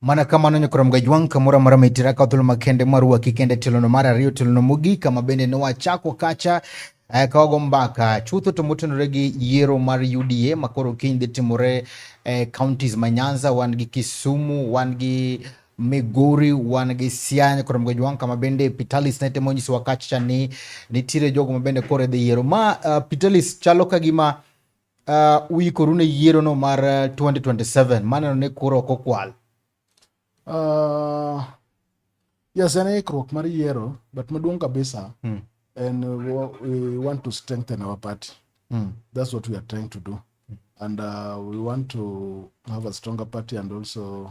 Mana kamano Nyakrom Gajwang' kamoro amora ma itira ka thuolo makende mar waki kende tilono mar ariyo tilono mogik kama bende ne wachako kacha eh, ka wago mbaka chutho to motenore gi yiero mar UDA ma koro kiny dhi timore eh, counties ma Nyanza wan gi Kisumu wan gi Migori wan gi Siaya Nyakrom Gajwang' kama bende Pitalis ne temo nyisowa kacha ni nitiere jogo ma bende koro idhi yiero ma uh, Pitalis chalo ka gima Uh, uikoru ne yiero no mar 2027 uh, maneno ni kuro ok okwal uh, yes en ikruok mar yiero but maduong kabisa mm. and uh, we want to strengthen our party mm. that's what we are trying to do mm. and uh, we want to have a stronger party and also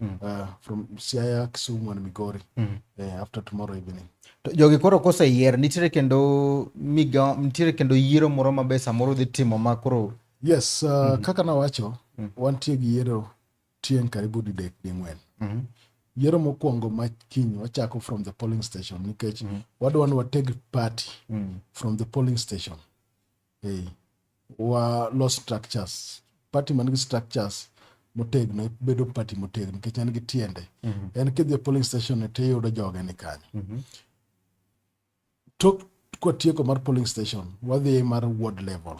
mm. uh, from Siaya, Kisumu and Migori mm. uh, after tomorrow evening. To jogi koro koseyier nitiere kendo miga nitiere kendo yiero moro ma be samoro dhi timo ma koro yes uh, mm -hmm. kaka nawacho mm -hmm. wantie gi yiero tieng' karibu didek di ng'wen mm -hmm. yiero mokwongo ma kiny wachako from the polling station nikech mm -hmm. wadwa ni wateg party mm -hmm. from the polling station Hey. Wa los structures. Party man gi structures motegno bedo party motegno nikech en gi tiende. Mm -hmm. En kidhi e polling station to iyudo joge ni kanyo. Mm -hmm. Tok kwatieko mar polling station wadhi mar ward level.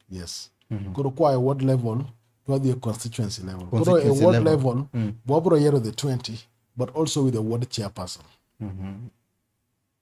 Yes. Mm -hmm. Koro kwa e ward level wadhi e constituency level. Koro e ward level, level mm -hmm. wabro yiero the 20 but also with the ward chairperson. Mm -hmm.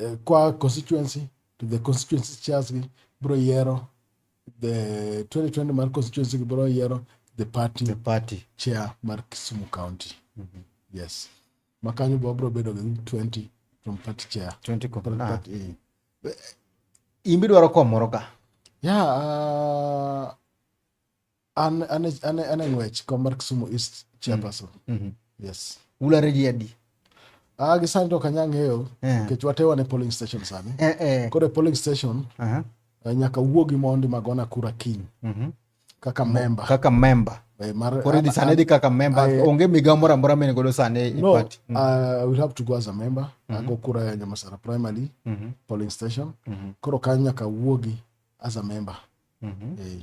eh, kwa constituency to the constituency chairs gi bro yero the 2020 mar constituency gi bro yero the party the party chair mar Kisumu county mm -hmm. yes makanyo bwa bro bedo gi 20 from party chair 20 from party, ah. party, eh. eh. imbi dwaro komoro ka yeah uh, An an an an e ng'wech kom mar Kisumu East chairperson. Mhm. Yes. Ulare ji adi? Ah, gi sani to ok anyang' ng'eyo Eh. nikech watewa ne polling station sani. Eh, eh. Koro e polling station Aha. eh, nyaka wuogi mondi magona kura kiny Mhm. kaka memba Kaka member. eh, mar Koro idhi sani idhi kaka member. Aye. Onge migawo moro amora mene godo sani e no, party. Mm. I will have to go as a member. Ago kura ya Nyamasara primary Mhm. polling station. Mhm. Koro kanyo nyaka wuogi as a member. Mhm. Eh.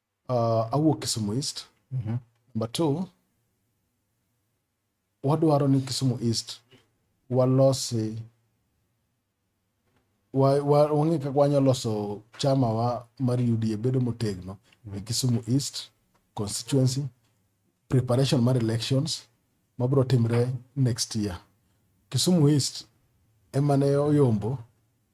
uh, awuok Kisumu East. Mm -hmm. Number two, wadwaro ni Kisumu East walosi wang'e kaka wanyalo loso chama wa mar UDA bedo motegno e mhm. Kisumu East constituency preparation mar elections mabiro timre next year. Kisumu East emane oyombo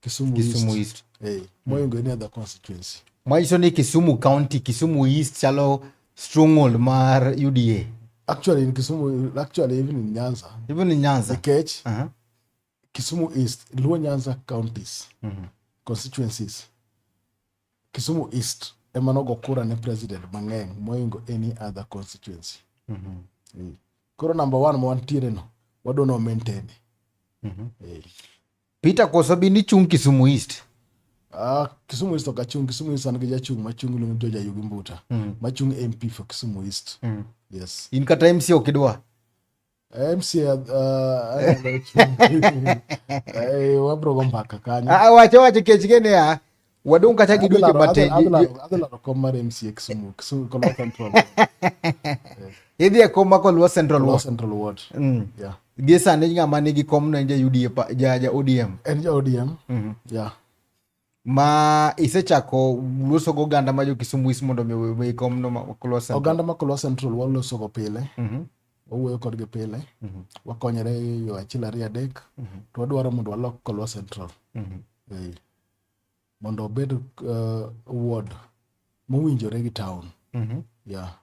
Kisumu, Kisumu East. East. Hey, Moi go any other constituency. Mwayiso ni Kisumu County, Kisumu East chalo stronghold mar UDA. Actually in Kisumu, actually even in Nyanza, Even in Nyanza. Nikech, Uh-huh. Kisumu East, Luo Nyanza counties, constituencies. Kisumu East ema nogo kura ne president mang'eny moingo any other constituency. Eh. Koro number one ma wantiere no, wadwa ni wamaintain. Eh. Peter koso bin ichung' Kisumu East. Ah, Kisumu East ok achung', Kisumu East an gi jachung' machung' iluongo ni George Ayugi Mbuta. Mm. Machung' MP for Kisumu East. Mm. Yes. In kata MC ok idwa. MCA uh, eh, wabro go mbaka kanyo. Ah, wacho wacho kech gene ah. Wadong' kata gi dweche matin. Adhi laro kom mar MCA Kisumu, Kisumu Kolo Central. Idhi e kom ma Kolo Central Ward. Central Ward. Mm. Yeah. Gie sani ng'ama nigi kom no en ja UDA ja ja ODM. En ja ODM. Mm -hmm. Yeah. Ma isechako loso go oganda ma jo Kisumu is mondo mi owe kom no ma Kolo Central. Oganda ma Kolo Central waloso go pile. Mm -hmm. Wawuoyo kodgi pile. Mm -hmm. Wakonyore yo achiel ariyo adek. Mm -hmm. To wadwaro mondo walok Kolo Central. Mm -hmm. yeah. mondo obed uh, ward mowinjore gi town mm -hmm. yeah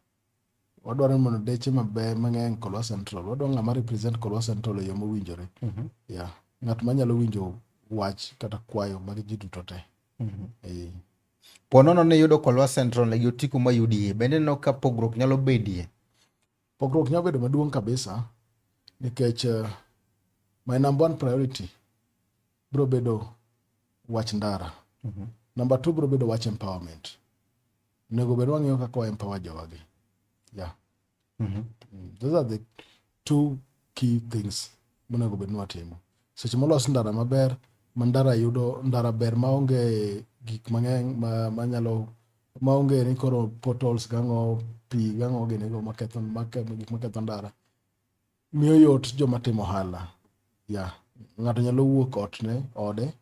wadwaro ni mondo deche maber mang'eny Kolwa Central wadwaro ng'ama represent Kolwa Central e yo mowinjore mm -hmm. yeah ng'at manyalo winjo wach kata kwayo mag ji duto te mm -hmm. e, ponono ne yudo Kolwa Central e gi Otiku ma UDA bende no ka pogruok nyalo bedie Pogruok nyalo bedo maduong' kabisa nikech uh, my number one priority bro bedo wach ndara. Mm -hmm. Number two bro bedo wach empowerment. Onego bed wang'eyo kaka wa empower jowagi. Yeah. Mm -hmm. Mm, those are the two key things monego bed ni watimo. Seche molos ndara maber, ma ndara yudo ndara ber maonge gik mang'eny ma, ma nyalo ma onge ni koro portals gang'o pi gang'o ginego maketho gik maketho ndara miyo yot joma timo ohala ya ng'ato nyalo wuok otne ode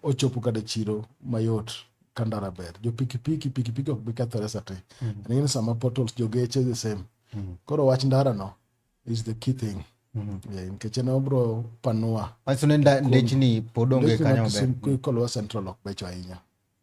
ochopo kata chiro mayot ka ndara ber jo pikipiki pikipiki ok bi kethore sate mm. aning'eni sama portals jogeche the same mm. koro wach ndara no is the key thing Mm-hmm. nikech en obro panua. Manyiso ni ndechni pod onge kanyo maber. Kolwa Central ok becho ahinya.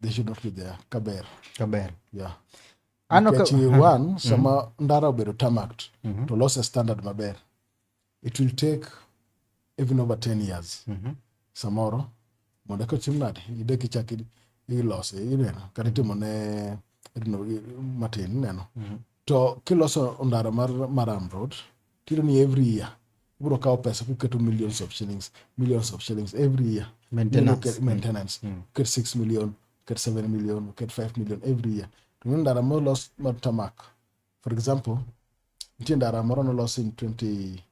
they should not be there kaber kaber yeah ano ka one mm-hmm. sama mm-hmm. ndara obedo tamact mm-hmm. to loss a standard maber it will take even over 10 years mm-hmm. samoro mondo ka tim nade ide kichak ilose ineno kata itimo ne matin ineno mm-hmm. to kiloso ndara mar maram road Tiyudo ni every year ibiro kawo pesa kuketo millions of shillings, millions of shillings every year. Maintenance. Maintenance. Mm. Uket 6 million, uket 7 million, uket 5 million every year. To nyo ndara molos mar tamak. For example, nitie ndara moro nolos in 20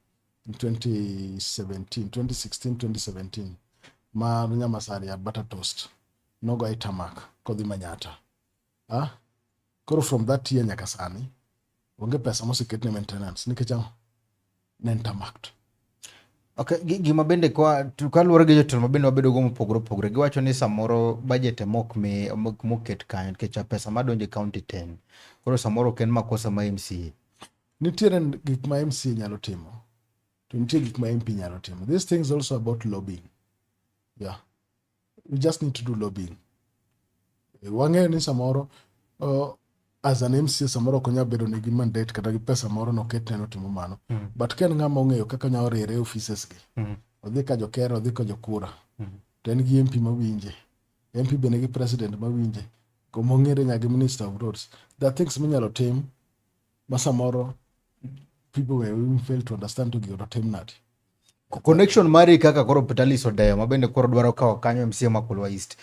in 2017, 2016, 2017 mar Nyamasari ya Butter Toast nogo e tamak kodhi Manyata. Ah, koro from that year nyaka sani onge pesa moseket ne maintenance nikech ang'o ne ntamakto Okay, gima bende kwa kaluwore gi jotelo mabende wabedo go mopogore opogore giwacho ni samoro budget ema ok mi moket kanyo nikech pesa madonjo e county ten koro samoro ok en makosa ma MCA. Nitiere gik ma MCA nyalo timo to nitie gik ma MP nyalo timo. These things also about lobbying. Yeah. we just need to do lobbying eh, wang'eyo ni samoro uh, as an mca samoro ok onyal bedo nigi mandate kata gi pesa moro noket neno timo mano mm. but ka en ng'ama ong'eyo kaka nya oriere offices gi mm. odhi ka jokera odhi ka jokura mm. to en gi mp mawinje mp bende gi president mawinje komong'ere nya gi minister of roads the things minyalo tim ma samoro people were even fail to understand to gino tim nadi connection mari kaka koro pitalis odeyo ma bende koro dwaro kawo kanyo mca ma kulwa east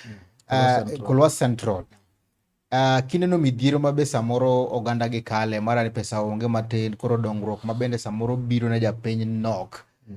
uh, kulwa central Uh, kineno midhiero ma be samoro oganda gi kale mara ni pesa onge matin koro dongruok ma bende samoro biro ne japiny nok mm.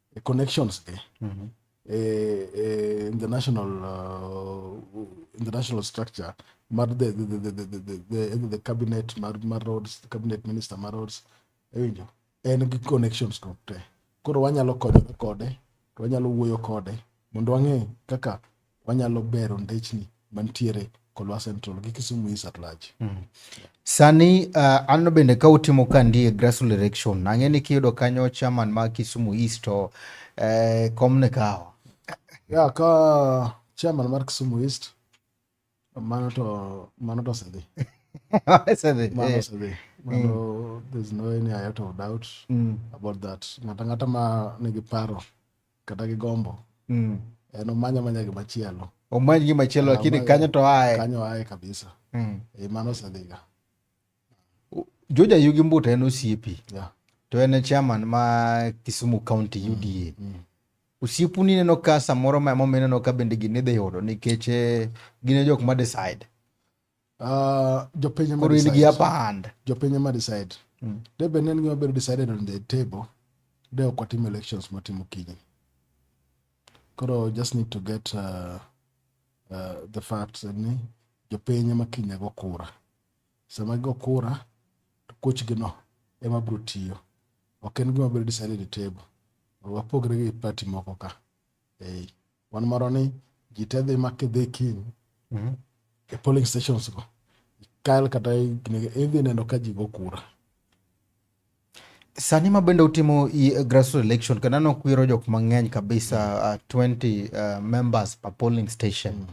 eh, connections eh, mm-hmm. eh, eh, in the national uh, in the national structure mar the the the the the, the, the, the cabinet mar mar roads the cabinet minister mar roads ewinjo en gi connections go te koro wanyalo konyore kode to wanyalo wuoyo kode mondo wang'e kaka wanyalo bero ndechni mantiere Kolwa Central gi Kisumu East at large. Mm. Sani uh, an bende ka utimo ka ndie grassroots election ang'e ni kiyudo kanyo chairman ma Kisumu East to eh, kom ne kawo. Ya ka chairman mar Kisumu East mano to mano to osedhi. osedhi. Mano eh. osedhi. Mano mm. there's no any iota of doubt mm. about that. Ng'ata ng'ata ma nigi paro kata gi gombo mm. en omanya manya gi machielo omany gi machielo ah, lakini kanyo to aye kanyo aye kabisa mm. e mano osedhiga Joja Yugi Mbuta en osiepi yeah. to en chairman ma Kisumu County mm, UDA mm. mm. osiepu ni neno ka samoro ma emomiyo ineno ka bende gini dhi yudo nikech eh, gine jok ma decide Uh, jopiny ema koro in gi apand jopiny ema decide mm. de be ne gima bedo decided on the table de ok watimo elections matimo kiny koro just need to get uh, uh, the facts ni jopiny ema kinya go kura sama go kura to kochgi no ema bro tiyo ok en gima bedo decided at table wapogre gi party moko ka hey. Wan moro ni ji te dhi ma kidhi kiny mm-hmm. e polling stations go kal kata idhi neno ka ji go kura sani ma bende utimo grassroots election kendo aneno kwiro jok mang'eny kabisa uh, 20 uh, members per polling station mm.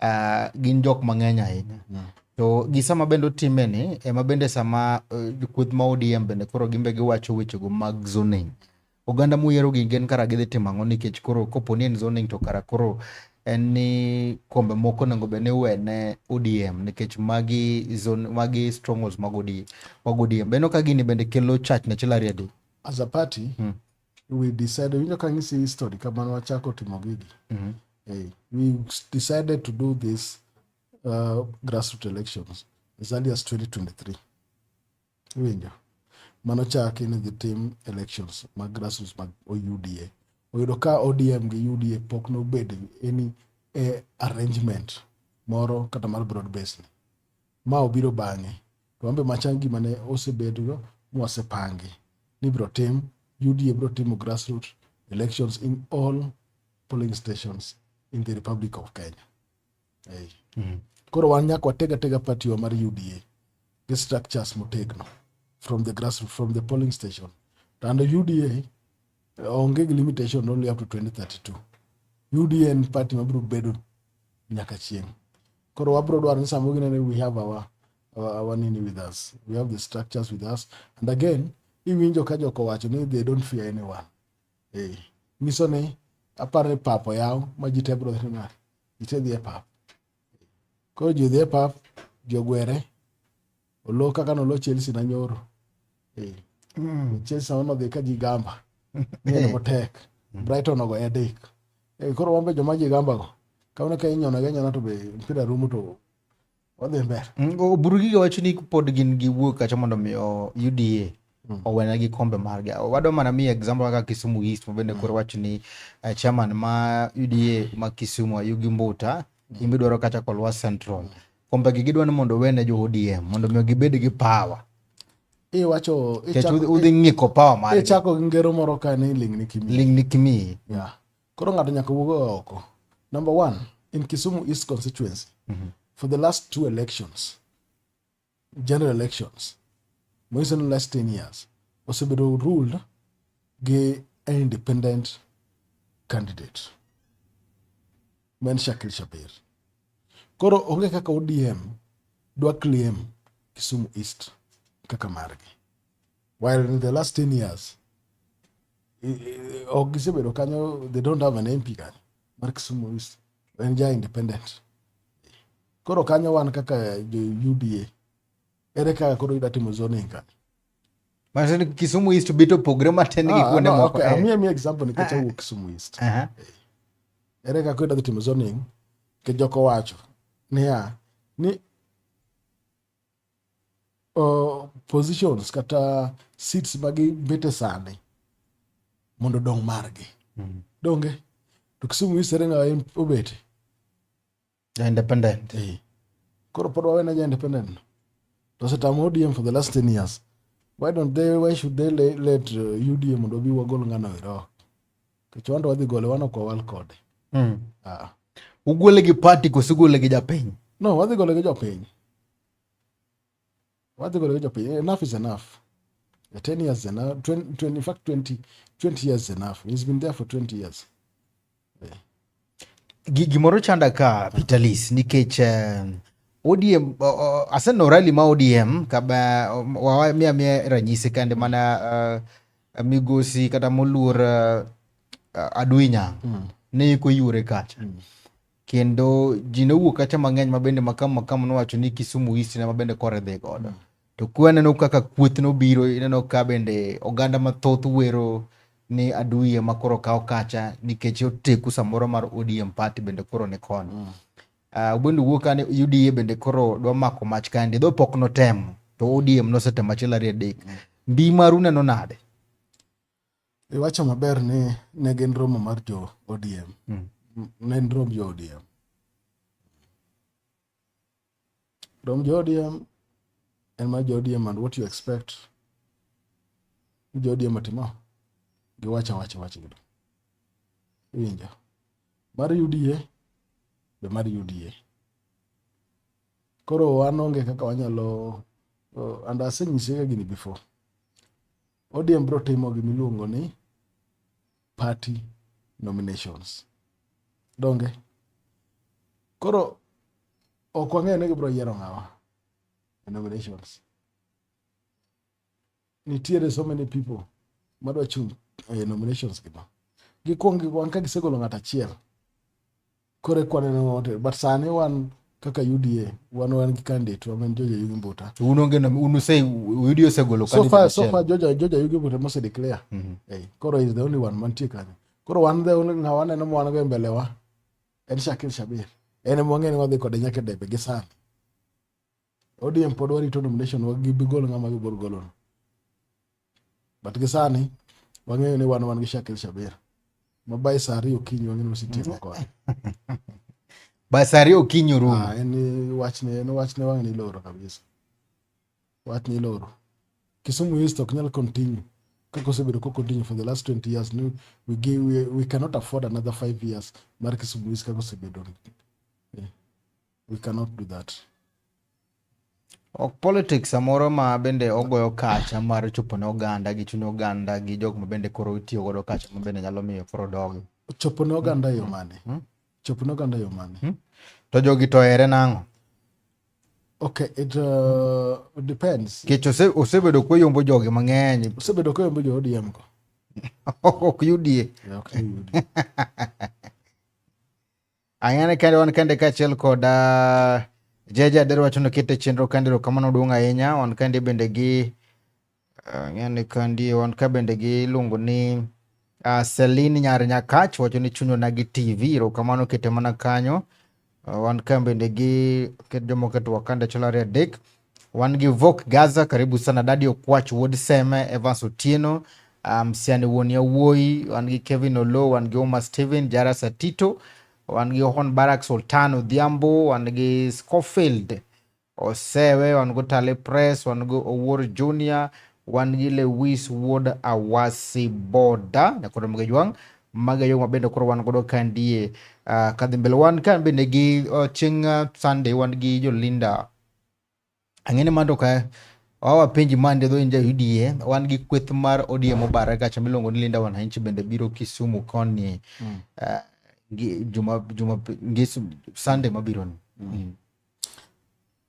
uh, gin jok mang'eny ahinya mm. to gi sama bende utime ni ema bende sama uh, kweth ma ODM bende koro gimbe giwacho wechego mag zoning Oganda muyiero gi gin kara gidhi timo ang'o nikech koro kopo ni en zoning to kara koro en ni kombe moko onego bed ni iwene ODM nikech magi zone magi strongholds mag ODM mag ODM beno ka gini bende kelo chach ne chilaria di as a party mm. we decided winjo ka ng'isi history kamano wachako timo gigi mm -hmm. hey, we decided to do this uh, grassroots elections as early as 2023 Iwinjo? Mano chaki ni gitim elections mag grassroots mag UDA. Oyudo ka ODM gi UDA pok nobed any eh, arrangement moro kata mar broad base ni. Ma obiro bang'e. To wambe machan gima ne osebedgo mwasepangi ni biro tim UDA biro timo grassroots elections in all polling stations in the Republic of Kenya. hey. mm -hmm. koro wan nyaka watega tega party wa mar uda gi structures motegno from the grass from the polling station to under uda onge gi limitation only up to 2032 uda en party mabiro bedo nyaka chieng koro wabiro dwaro ni samoro ginene we have our, our, our nini with us we have the structures with us and again iwinjo ka joko wacho ni they don't fear anyone eh nyiso ni aparo ni pap oyaw ma ji te bro ni ma ji te dhi e pap koro ji dhi e pap ji ogwere olo kaka nolo Chelsea na nyoro eh mm. Chelsea ono dhi ka ji gamba ng'eno motek Brighton ogo e adek eh, koro wambe joma ji gamba go kaune ka inyono ga nyona to be mpira rumo to wadhi mbele mm, oburugiga wacho ni pod gin gi wuok kacha mondo mi uda mm. owena gi kombe margi wadwa mana mi example kaka kisumu east mabende mm. koro wach ni uh, chairman ma uda ma kisumu ayugi mbuta mm. imbe dwaro kacha kolwa central mm. kombe gi gidwa ni mondo owene jo odm mondo mi gibed gi power iwacho udhi ng'iko power margi ichako gi ngero moro ka ni lingni kimi lingni kimi yeah Koro ng'ato nyaka wuog oko. Number one, in Kisumu East constituency, mm -hmm. for the last two elections, general elections, more than the last 10 years, osebedo ruled gi an independent candidate ma en Shakil Shabir. Koro onge kaka ODM dwa claim Kisumu East kaka margi. while in the last 10 years eh, eh, ok gisebedo kanyo they don't have an MP kanyo mar Kisumu East en ja independent koro kanyo wan kaka jo UDA ere kaka koro ida timo zoning kanyo Manake ni Kisumu East bito pogre matin gi Ah, kuonde no, moko. okay, eh. amiye amiye example nikech awuok Kisumu East Aha. ere kaka idwa dhi timo zoning ke jok owacho niya ni uh, positions kata seats ma gibete sani mondo dong margi mm. donge to Kisumu East ere ng'awa obete ja independent eh. koro pod wawena ja independent no to osetamo ODM for the last 10 years why don't they why should they let, let uh, UDM mondo obi wagol ng'ano ero Kichwando wadhi gole wan ok wawal kode. Mm. Ah. Ugole gi party koso ugole gi japiny? No, wadhi gole gi jopiny. Wadhi gole gi jopiny. Enough is enough. Yeah, 10 years is enough. 20, 20, in fact 20, 20 years is enough. He's been there for 20 years. Yeah. Gimoro chanda ka Peter Lis nikech eh, ODM aseneno rally ma ODM kaba wawa mia mia ranyisi kande mana uh, migosi kata moluor uh, Aduinya mm. ne iko yure kacha mm. kendo ji ne owuok kacha mang'eny mabende makam makam nowacho ni Kisumu East ne mabende kore dhi godo mm. To kwa neno kaka kuoth nobiro, ineno ka bende oganda mathoth wero ni aduye ma koro kawo kacha nikech oteku samoro mar ODM party bende koro ni koni. Mm. Uh, ubende wuok kane UDA bende koro dwa mako mach kande, dho pok notemo to ODM nosetemo achiel ariyo adek. Mm. Mbi maru neno nade? Iwacho maber ni ne gin romo mar jo ODM. Mm. Ne en romb jo ODM. From Jodium, and my Jodium, and what you expect. Jodium atimo. Giwacha wacha wacha gido. Winja. Mar UDA, be mar UDA. Koro wan onge kaka wanyalo uh, and aseng'ise ga gini before. ODM bro timo gimiluongo ni party nominations donge koro ok wang'eyo ni gibiro yiero ng'awa e nominations nitiere so many people madwa chung' e nominations gigo gikwong gikwang ka gisegolo ng'at achiel kore kwaneno wote but sani wan kaka uda wan wan gi candidate wa men joja yugi mbuta un onge nom- un use uda osegolo so candidate far so achiel. far joja joja yugi mbuta mose declare Mhm. hey, koro is the only one mantie kanyo koro wan the only ng'awa neno ma wan go e mbele wa en shakil shabir en ema wang'e ni wadhi kode nyaka e debe gi sani ODM pod warito nomination wa gibi gol ng'ama gibor golono. But gi sani wang'eyo ni wan wan gi Shakil Shabir. Ma by saa ariyo okinyi wang'eyo ni osetieko kod. By saa ariyo okinyi orumo. Ah, en wachne en wachne wang' ni loro kabisa. Wach ni loro. Kisumu East ok nyal continue. Kaka osebedo ko continue for the last 20 years ni we, give, we, we cannot afford another 5 years mar Kisumu East kaka osebedo. we cannot do that ok politics samoro ma bende ogoyo kacha mar chopo ne oganda gi chuny oganda gi jok ma bende koro itiyo godo kacha ma bende nyalo miyo koro dogi chopo ne oganda yo mane hmm? Hmm? chopo ne oganda yo mane hmm? to jogi to ere nang'o Okay, it uh, depends. Kech osebedo kweyombo jogi mang'eny. Osebedo kweyombo jo ODM go. ok yudie. Yeah, okay, yudie. Ayane kende wan kende kaachiel kod uh, Jeje Ader wacho ni okete chenro kandi erokamano duong' ahinya. Wan kandi bende gi uh, ng'ani kandi wan ka bende gi iluongo ni uh, Celine Nyar Nyakach wacho ni chunyona gi TV erokamano kete mana kanyo. Uh, wan ka bende gi ket jomoko e twak kande achiel ariyo adek. Wan gi Vok Gaza, karibu sana Dadi Okwach, Wuod Seme, Evans Otieno, Msiani um, Wuon Yawuoyi, wan gi Kevin Olo, wan gi Omar Steven, Jara Satito, wan gi Hon Barak Sultan Odhiambo, wan gi Scofield Osewe, wan go Tale Press, wan go Owuor Junior, wan gi Lewis Wuod Awasi Boda, nyakoro mga jwang' maga yo mabende koro wan godo kandie uh, ah, kadhi mbele wan kan bende gi uh, chieng' uh, Sunday wan gi Jolinda Ang'e ni mando ka wawa penji mande dho inja UDA wan gi kweth mar ODM obare gacha miluongo ni Linda Wananchi bende biro Kisumu koni mm. uh, juma juma ngesu Sunday mabiro ni. Mm. Mm.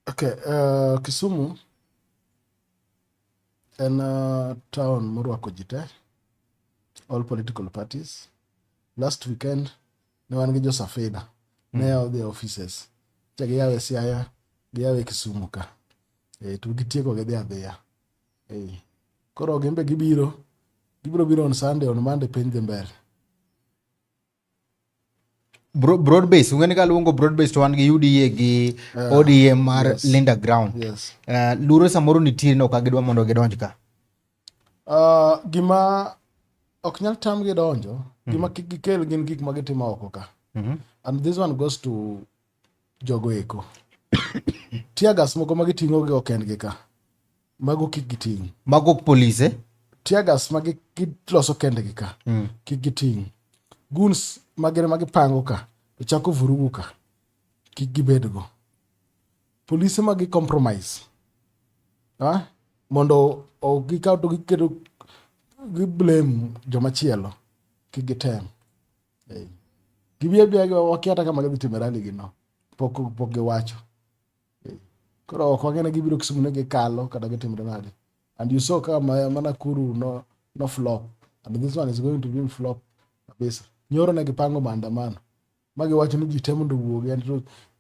Okay, uh, Kisumu en uh, town morwako ji te all political parties last weekend ne wan gi josafina ne mm. yawo the offices cha giyawo e siaya giyawo e kisumu ka e, to gitieko gidhi adhiya e, koro gimbe gibiro gibiro biro on sunday on monday piny dhi mbele broadbase ung'eni ka luongo broadbase to wan gi UDA gi uh, ah, ODM mar yes, Linda Ground yes. Uh, lure samoro nitie no ka gidwa mondo gidonj ka Uh, gima ok nyal tamgi donjo mm -hmm. gima kik gikel gin gik ma gitimo oko ka mm -hmm. and this one goes to jogo eko tiagas moko ma giting'o gi ok endgi ka mago kik giting' mago polise eh? tiagas ma giloso kendgi ka mm. kik giting' guns magere ma gipango ka to chako vurugu ka kik gibedgo Polise ma gi compromise. Ah, mondo ok gikaw to giketo gi blame joma chielo. Kik gitem. Hey. Gibiya biya gi wakia kama gidhi timo rally gi no. Pok pok giwacho. Hey. Koro ok wang'e ne gibiro Kisumu ne gikalo kata gitimo nade. And you saw kama mana kuru no no flop. And this one is going to be flop kabisa. Nyoro ne gipango maandamano. ma giwacho ni ji te mondo owuogi and,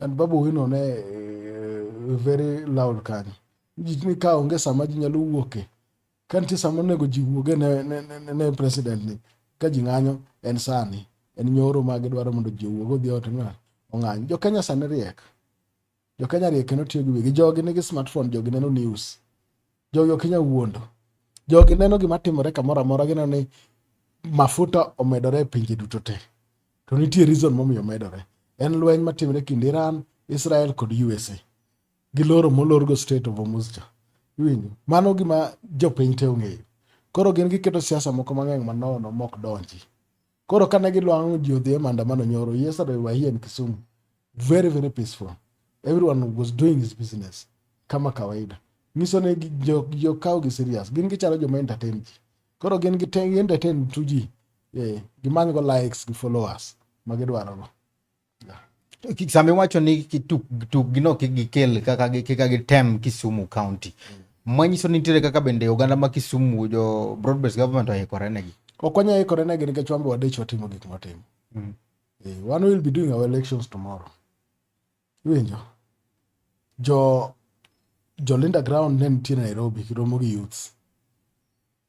and babu wino ne uh, very loud kanyo ji ni ka onge sama ji nyalo wuoke ka nitie sama onego ji wuoge ne, ne, ne, ne president ni ka ji ng'anyo en sani en nyoro ma gidwaro mondo ji owuog odhi ote ng'a ong'any jo kenya sani riek Jo Kenya riek kendo tiyo gi wigi. Jogi nigi smartphone, jogi neno news. Jogi ok inyal wuondo. Jogi neno gima timore kamoro amora gineno ni mafuta omedore e pinje duto te. To nitie reason momiyo omedore. En lweny matimre kind Iran, Israel kod USA. Giloro molorgo Strait of Hormuz cha. Iwinjo? Mano gima jopiny te ong'eyo. Koro gin giketo siasa moko mang'eny manono mok donji. Koro kane gilwang'o ji odhi e maandamano nyoro yesterday we were here in Kisumu very very peaceful everyone was doing his business kama kawaida nyiso ni jokawo gi serious gin gichalo joma entertain ji koro gin gi entertain tu ji eh, gimanygo likes gi followers ma gidwarogo sami wacho ni tukgino kik gikel kaka gitem Kisumu County manyiso ni nitiere kaka bende oganda ma Kisumu jo broadbased government oikore negi ok wanyal ikore negi nikech wan be wadich watimo gik mwatimo mm. eh, wan will be doing our elections tomorrow iwinjo jo jo Linda Ground ne nitie Nairobi kiromo gi youths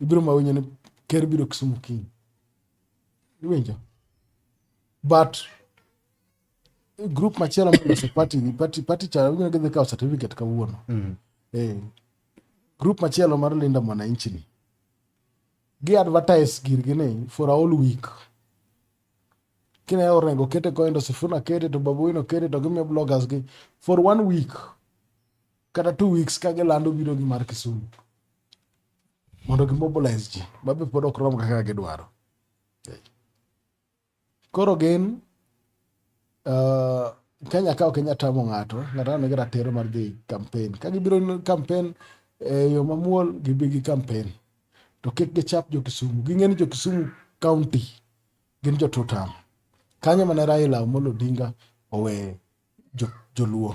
ibiro ma winjo ni ker biro Kisumu kiny iwinjo but group machielo maloso party party party cha winjo gidhi kawo certificate kawuono mm. eh group machielo mar Linda Mwananchi ni gi advertise girgi ni for a whole week kine orengo kete koendo sifuna kete to babuino kete to gimiyo bloggers gi for one week kata two weeks ka gilando biro gi mar Kisumu mondo gimobilize ji ma be pod ok rom kaka gidwaro. Koro gin uh, Kenya ka ok inya tamo ng'ato, ng'ato aneno gi ratiro mar dhi campaign. Ka gibiro campaign e yo mamuol gibi gi campaign. To kik gichap jo Kisumu. Ging'e ni jo Kisumu county gin jo tutam. Kanyo mane Raila Amolo Odinga owe joluo.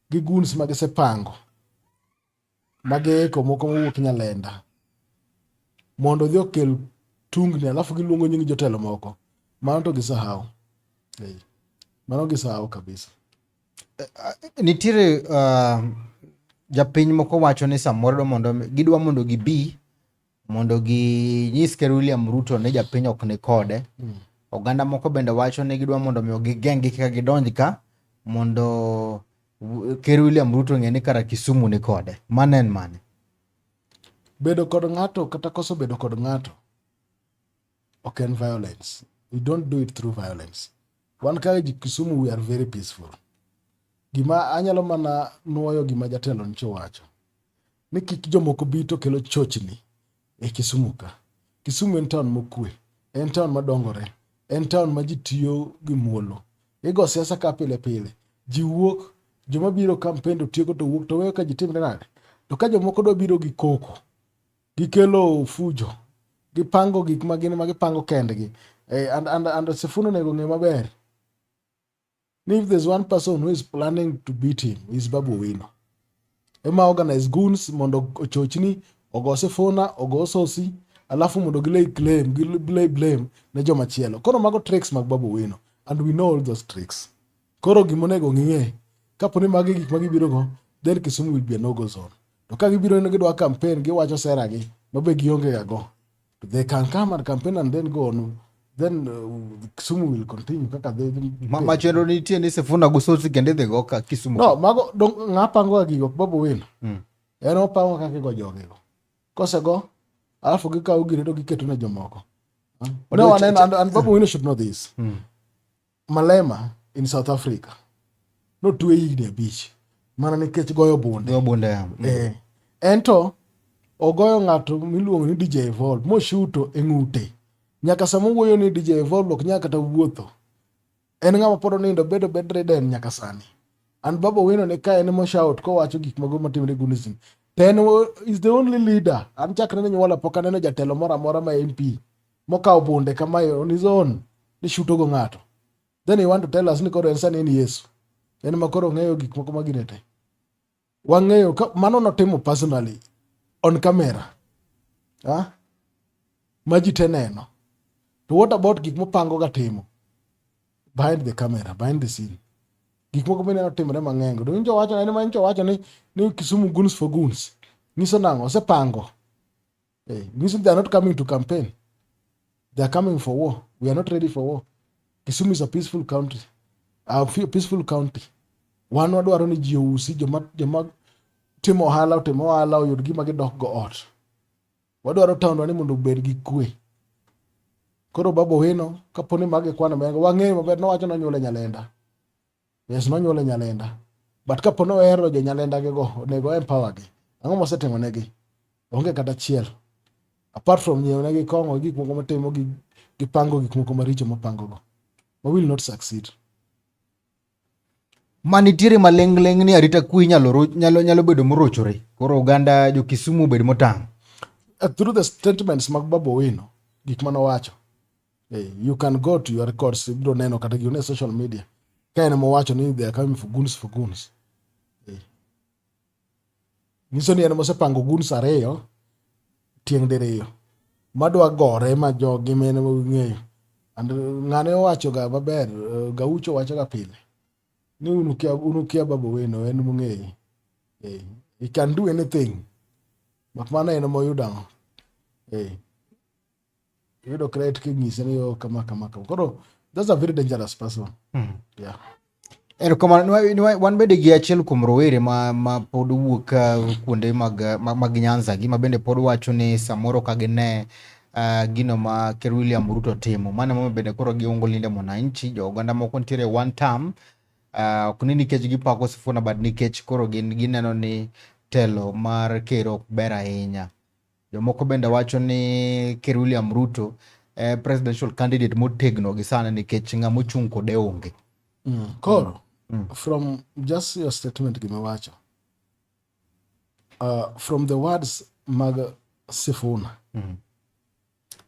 gi guns ma gisepango mageiko moko mowuok Nyalenda mondo odhi okel tungni, alafu giluongo nying jotelo moko. Mano to gisahau, mano gisahau kabisa. Eh, eh, nitiere uh, japiny moko wacho ni samoro mondo gidwa mondo gibi mondo ginyis ker William Ruto ni japiny ok ni kode. Mm. Oganda moko bende wacho ni gidwa mondo mi gigeng'gi kika gidonj ka mondo ker William Ruto ng'e ni kara Kisumu ni kode. Mano en mane? Bedo kod ng'ato kata koso bedo kod ng'ato ok en violence. We don't do it through violence. Wan ka Kisumu we are very peaceful. Gima anyalo mana nuoyo gima jatelo nyicho wacho ni kik jomoko bi to kelo chochni e Kisumu ka. Kisumu en taon mokue, en taon madongore, en taon ma ji tiyo gi muolo. Igo siasa ka pile pile, ji wuok, joma biro kampen to tieko to wuok to weyo ka ji timre nade. To ka jomoko dwa biro gi koko, gikelo fujo, gipango gik ma gin ma gipango kendgi. Eh, and, and, and Sifuna onego ng'e maber If there's one person who is planning to beat him, is Babu Wino. Ema organize goons mondo ochochni ogo sifuna ogo sosi alafu mondo gilay claim gilay blame ne joma chielo. Koro mago tricks mag Babu Wino and we know all those tricks. Koro gima onego ng'e kapo ni magi gik ma gibiro go then Kisumu will be a no go zone. To ka gibiro ni gidwa campaign giwacho sera gi mabe gionge ga go. They can come and campaign and then go on. Then uh, Kisumu will continue. Kaka they Ma, machelo nitie ni Sifuna Gusoti kende dhi go ka Kisumu. No, mago dong ngapango ga gigo babu win. Mm. En opango kaka go jogi go. Kose go alafu gikawo gine to giketo ne jomoko. No, and, and, and babu win should know this. Mm. Malema in South Africa notwe higni abich mana nikech goyo bunde. Goyo bunde. Mm. Eh. Ento ogoyo ng'ato miluongo ni DJ Evolve moshuto e ng'ute. Nyaka sama wuoyo ni DJ Evolve ok nyaka kata wuotho. En ng'ama pod onindo bedo bedridden nyaka sani. An Baba Owino ne ka en moshout kowacho gik mago matimre Gunism. Ten is the only leader. An chakre ne nyuola pok aneno jatelo moro amora ma MP mokawo bunde kama on his own ni shuto go ng'ato then you want to tell us ni koro en sani en Yesu en ma koro ng'eyo gik moko ma gine te wang'eyo mano notimo personally on camera ha ma ji te neno to what about gik mopango ga timo behind the camera behind the scene gik moko bende notimore mang'eny to injo wacho ni ma injo wacho ni ni Kisumu guns for guns nyiso nang'o osepango Hey, eh, music, they are not coming to campaign. They are coming for war. We are not ready for war. Kisumu is a peaceful country. A peaceful county. Wan wadwaro ni ji ousi joma joma timo ohala otimo ohala oyud gima gidok go ot. Wadwaro taondwa ni mondo obed gi kwe. Koro Babu Owino kaponi mage kwana mengo wang'eyo maber nowacho nonyuole Nyalenda. Yes, nonyuole Nyalenda. But kapo ni ohero jo Nyalenda gi go, onego empower gi. Ang'o mosetimo negi? Onge kata achiel. Apart from nyiewo negi kong'o gik moko motimo gi gipango gik moko maricho mopango go. We will not succeed. ma nitiere maling'ling' ni arita kwe inyalo ro- nyalo nyalo bedo morochore koro oganda jo Kisumu obed motang' Uh, through the statements mag Babu Owino, gik mane owacho. Hey, you can go to your records ibiro neno kata gine social media ka en mowacho ni they are coming for goons for goons hey. nyiso ni en mosepango goons ariyo tieng' diriyo madwa gore ma jogi mene ng'eyo and ng'ane owacho ga maber eh, gaucho wacho ga pile ni unukia unukia babo weno en mung'eyi hey. he can do anything mak mana en moyudo ang'o hey. Yudo credit kinyise ni yo kama kama kama. Koro that's a very dangerous person. Mm. Yeah. Erokamano wan bende gi achiel kuom rowere ma, ma pod wuok uh, kuonde mag, mag, mag Nyanza gi ma bende pod wacho ni samoro ka gine uh, gino ma Ker William Ruto timo. Mano momiyo bende koro giungo linde mwananchi, jo oganda moko nitiere one term uh, ok ni nikech gipako Sifuna but nikech koro gin gineno ni telo mar ker ok ber ahinya. Jomoko bende wacho ni Ker William Ruto e presidential candidate motegno gi sani nikech ng'ama ochung' kode onge. Mm. Koro, mm. mm. from just your statement gimiwacho, uh, from the words mag Sifuna, mm.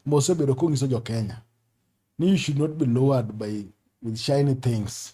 mosebedo kong'iso jo Kenya ni you should not be lowered by with shiny things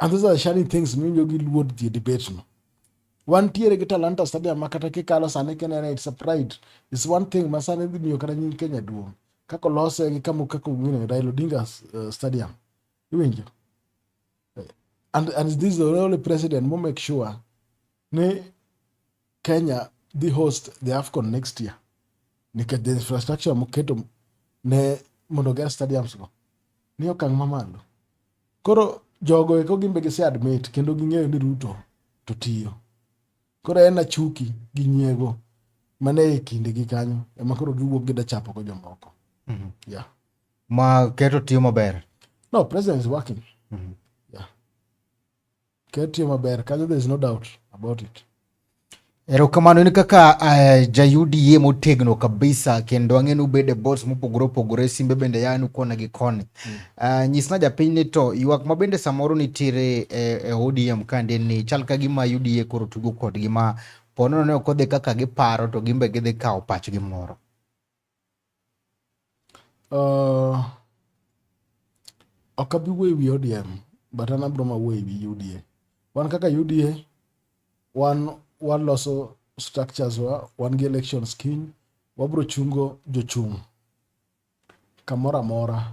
And those are the shining things miwinjo gi luor ji e debate no. Wantiere gi Talanta Stadium ma kata kikalo sani kinene it's a pride. It's one thing ma sani dhi miyo kata nying Kenya duong'. Kaka olose gi kama kaka ong'ine Raila Odinga uh, Stadium. Iwinjo? And, and this is the only president mo make sure ni Kenya dhi host the AFCON next year nikech the infrastructure moketo ne mondo ger stadiums go ni okang' mamalo. Koro jogo eko gimbe gise admit kendo ging'eyo ni Ruto to tiyo. Koro en achuki gi nyiego mane e kinde gi kanyo ema koro giwuok gida chapo go jomoko. Mm -hmm. Yeah. Ma keto tiyo maber. No, president is working. Mm -hmm. Ketiyo maber kanyo there is no doubt about it. Erokamano en kaka uh, eh, jayudie motegno kabisa kendo ang'e ni ubede bots mopogore opogore simbe bende yanu kona gi koni mm. uh, eh, nyisna japiny ni to ywak ma bende samoro nitiere eh, e eh, ODM kande ni chal ka gima UDA koro tugo kodgi ma ponono ne ok odhi kaka giparo to gimbe gidhi kawo pachgi moro Uh, ok abi wuoyo wi ODM but an abro ma wuoyo wi UDA. Wan kaka UDA wan waloso structures wa, wan gi elections kiny, wabro chungo jochung' kamoro amora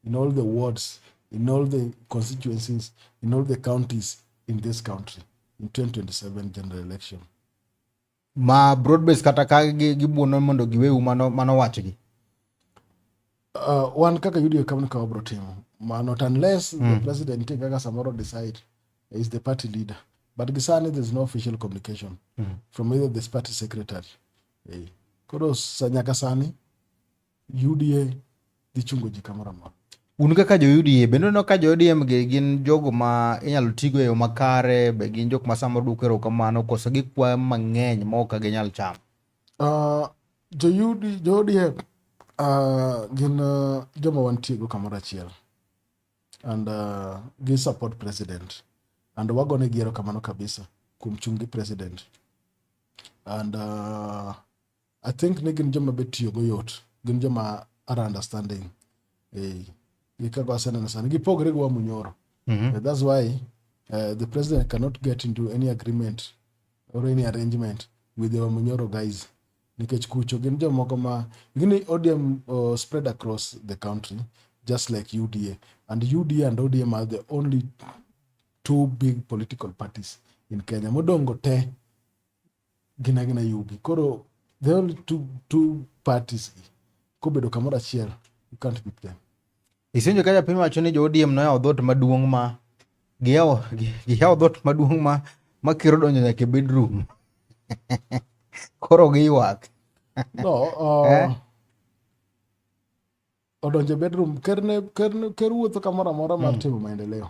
in all the wards, in all the constituencies, in all the counties in this country in 2027 general election. ma broadbase kata ka gibuono mondo giweu mano mano wachgi uh, wan kaka yudo e kamno ka wabro timo mano unless mm. the president e kaka samoro decide is the party leader but gisani there is no official communication mm. from either this party secretary hey. Eh, koro nyaka sani UDA dhi chungo ji kamoro amora. Un kaka jo UDA bende uneno ka jo ODM gi gin jogo ma inyalo tigo e yo makare, be gin jok ma samoro duoko erokamano koso gikwayo mang'eny ma ok ginyal chamo? Uh, jo UD, jo ODM uh, gin uh, joma wantiego kamoro achiel and uh, gi support president and wagone gi erokamano kabisa kuom chung' gi president and uh, I think ni gin joma be tiyo go yot. Gin joma are understanding. Eh, gi kaka waseneno sani. Gipogre gi wa Munyoro. Mm -hmm. That's why uh, the president cannot get into any agreement or any arrangement with the Wamunyoro guys. Nikech kucho gin jomoko ma gini ODM uh, spread across the country just like UDA and UDA and ODM are the only two big political parties in Kenya. Modongo te gin agina yugi koro the only two, two parties gi kobedo kamoro achiel you can't beat them isenjo ka japiny wacho ni jo ODM noyawo dhot maduong' ma giyawo giyawo dhot maduong' ma ma kiro donjo nyaka e bedroom koro giywak no uh, eh? odonjo e bedroom ker ne ker ker wuotho kamoro amora mar hmm. timo maendeleo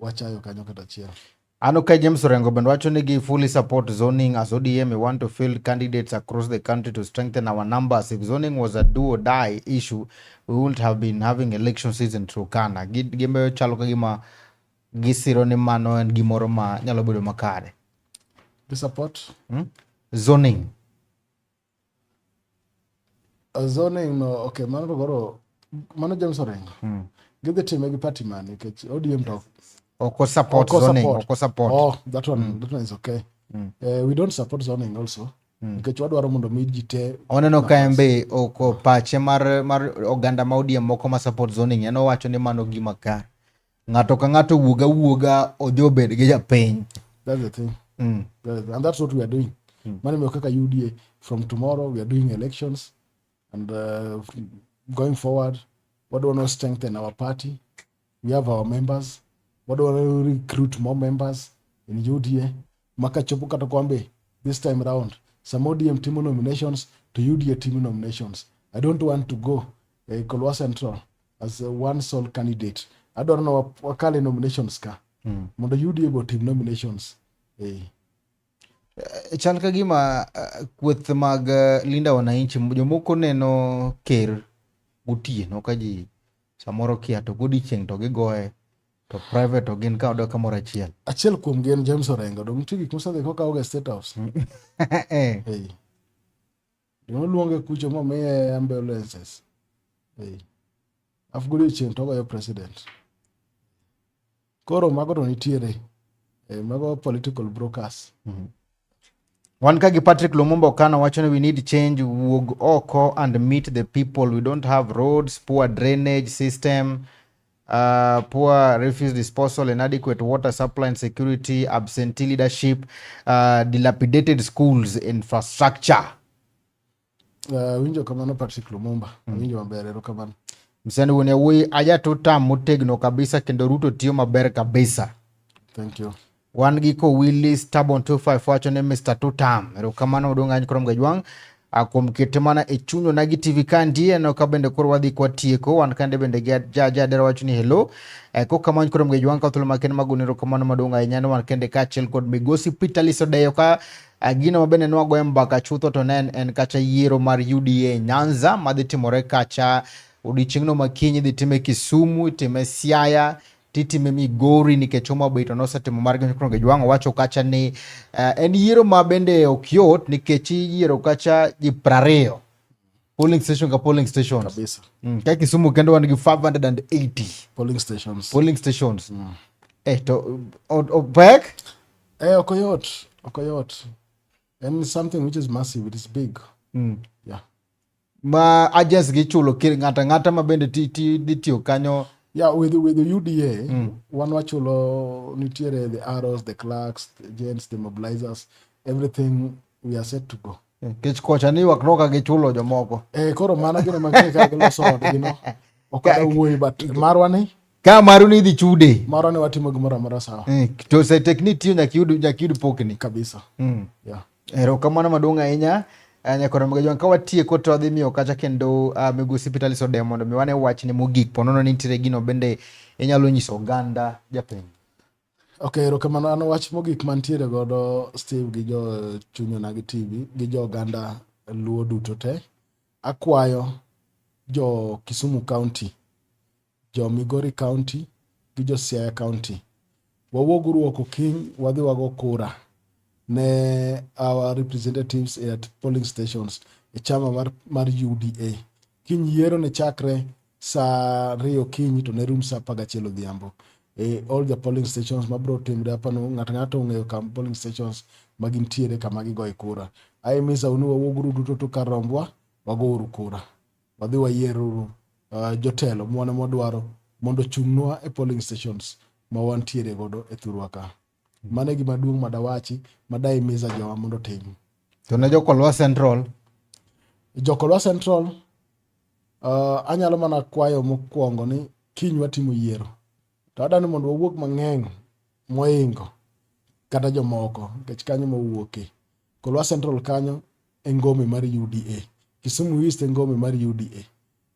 wachayo kanyo kata achiel. An okay, James Orengo bende wacho ni gi fully support zoning as ODM we want to field candidates across the country to strengthen our numbers. If zoning was a do or die issue, we wouldn't have been having election season through Kana. Gimbe chalo ka gima gisiro ni mano en gimoro ma nyalo bedo makare. Gi support hmm? zoning. zoning no okay mano to koro mano James Orengo mm. gidhi time gi party man nikech ODM to oko support oko zoning support. oko support oh that one mm. that one is okay mm. uh, we don't support zoning also Hmm. nikech wadwaro mondo mi ji te oneno ka en be oko pache mar, mar oganda ma odiem moko ma support zoning en owacho ni mano gima kare ng'ato ka ng'ato wuog awuoga ojo obed gi japiny that's the thing mm. that's the, and that's what we are doing mm. mano miyo kaka uda from tomorrow we are doing elections and uh, going forward what do we want to strengthen our party we have our members what do we want to recruit more members in uda maka chopo kata kwambe this time round some odm timo nominations to uda timo nominations i don't want to go uh, kolwa central as a one sole candidate adwaro na wakale nominations ka mm. mondo UDA go tim nominations hey. Eh. Eh, chal ka gima uh, kweth mag uh, linda wananchi jomoko neno ker gotieno ka ji samoro kia to godiechieng' to gigoye to private to gin ka odok kamoro achiel achiel kuom gin James Orengo dong nitie gik mosedhi kokawoga State House mm. eh. hey. Noluonge kucho momiye ambulances. Hey. Alafu godiechieng' to ogoyo president. Koro mago to nitiere. Eh, mago political brokers. Mm -hmm. Wan ka gi Patrick Lumumba Okana wacho ni we need change wuog oko and meet the people. We don't have roads, poor drainage system. Uh, poor refuse disposal, inadequate water supply and security, absentee leadership, uh, dilapidated schools infrastructure. Uh, winjo kamano Patrick Lumumba. Mm. Winjo maber ero kamano. Msichana woni awuoyi ajatuta motegno kabisa kendo Ruto tiyo maber kabisa. Thank you. Wan gi ko Willy Stubborn 25 wacho ni Mr. Tutam. Erokamano odong' any krom gajwang' kuom kete mana e chuny onagi tv ka ndiye no ka bende koro wadhi kwa tieko wan kande bende gi ja ja dera wacho ni hello e ko kamano koro mgejo wanka thulo ma ken magunero kamano maduong' ahinya ni wan kende ka achiel kod migosi Peter Liso Deyo ka gino ma bende nwago embaka chutho to ne en kacha yiero mar UDA Nyanza madhi timore kacha odiochieng'no makinyi dhi time Kisumu itime Siaya titime Migori nikech Homa Bay to nosetimo mar Kipchoge Ojwang owacho kacha ni uh, en yiero ma bende ok yot nikech iyiero kacha ji prariyo polling station ka polling stations kabisa mm, ka Kisumu kendo wan gi 580 polling stations polling stations mm. eh to opek eh ok yot ok yot and something which is massive it is big mm. yeah ma agents gi chulo ng'ata ng'ata ma bende ti ti ditiyo kanyo yeah with with the UDA mm. one wachulo nitiere the arrows the clerks the agents the mobilizers everything we are set to go eh, kech kocha ni wak noka gi chulo jomoko eh koro mana gino ma kika gi loso od gino okada wuoyi but marwa ni ka maru ni dhi chude marwa ni watimo gimoro amora sawa eh to se tekni tiyo nyaka yud nyaka yud pokni kabisa mm. yeah Erokamano maduong' ahinya eh, nyakoro mga jwan ka watieko to adhi miyo kacha kendo uh, migosi Peter Alice Odem mondo mi wane wachne mogik ponono ni nitiere gino bende inyalo nyiso oganda japiny. Okay, erokamano an wach mogik mantiere godo Steve gi jo chunyona gi TV gi jo oganda luo duto te akwayo jo Kisumu County jo Migori County gi jo Siaya County. Wawuog uru oko kiny wadhi wago kura ne our representatives at polling stations e chama mar, mar UDA. Kiny yiero ne chakre saa ariyo kiny to ne rum saa apar gachiel odhiambo e all the polling stations mabiro timre apano ng'ato ng'ato ong'eyo kam polling stations ma gintiere kama gigoye kura. Aye misa unu wawuog uru duto to kar rombwa wago uru kura. wadhi wayieruru uh, jotelo mwana mwadwaro mondo chung'nwa e polling stations ma wantiere godo e thurwa ka hmm. mano e gima duong' madawachi madaimiza jowa mondo otim to ne jokolwa central jokolwa central uh, anyalo mana kwayo mokwongo ni kiny watimo yiero to adani mondo wawuog mang'eny moingo kata jomoko nikech kanyo mawuoke kolwa central kanyo e ngome mar UDA. Kisumu East e ngome mar UDA.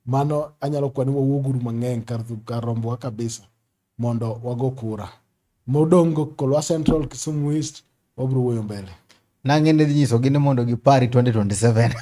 Mano anyalo kwani wawuoguru mang'eny kar, kar rombowa kabisa mondo wago kura. Modong' go Kolwa Central, Kisumu East, wabiro wuoyo mbele. Nang'e ne dhi nyisogi ni mondo gipari 2027.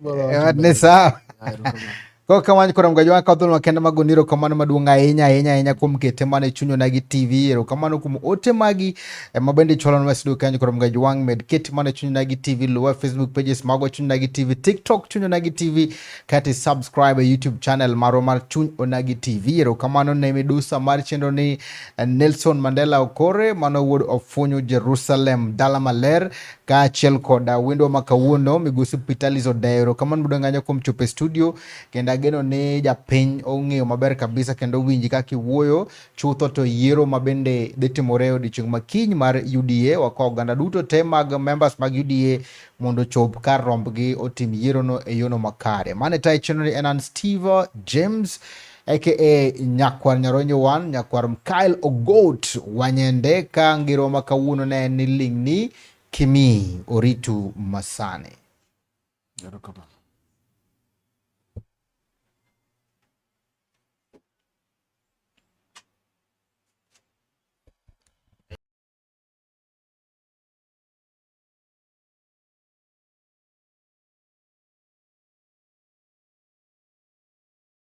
Bora Ewa, ni sawa. Haya, ruka mama. Koro ka wany koram gajo ka dhulma kenda mago niro kamano maduong' ahinya ahinya ahinya kuom kete mane chunyo na gi TV ero kamano kuom ote magi ema bende cholo na sido kanyo koram gajo wang' med kete mane chunyo na gi TV luwa Facebook pages mago chunyo na gi TV TikTok chunyo na gi TV kati subscribe e YouTube channel maro mar chuny onagi TV ero kamano ne midusa mar chenro ni eh, Nelson Mandela Okore mano wuod ofunyo Jerusalem dala maler kaachiel koda wendwa ma kawuono. Migosi Pitalis odeyo erokamano maduong' ahinya kuom chopo e studio, kendo ageno ni japiny ong'eyo maber kabisa kendo owinji kaka iwuoyo. Chutho to yiero ma bende dhi timore e odiechieng' ma kiny mar UDA, wakwayo oganda duto te mag members mag UDA mondo ochop kar rombgi otim yierono e yono makare. Mane tayo chenroni en an Steve James. aka nyakwar nyaronyo wan nyakwar mkael ogot wanyende ka ngiro ma kawuono ne en ni ling'ni kimi oritu masani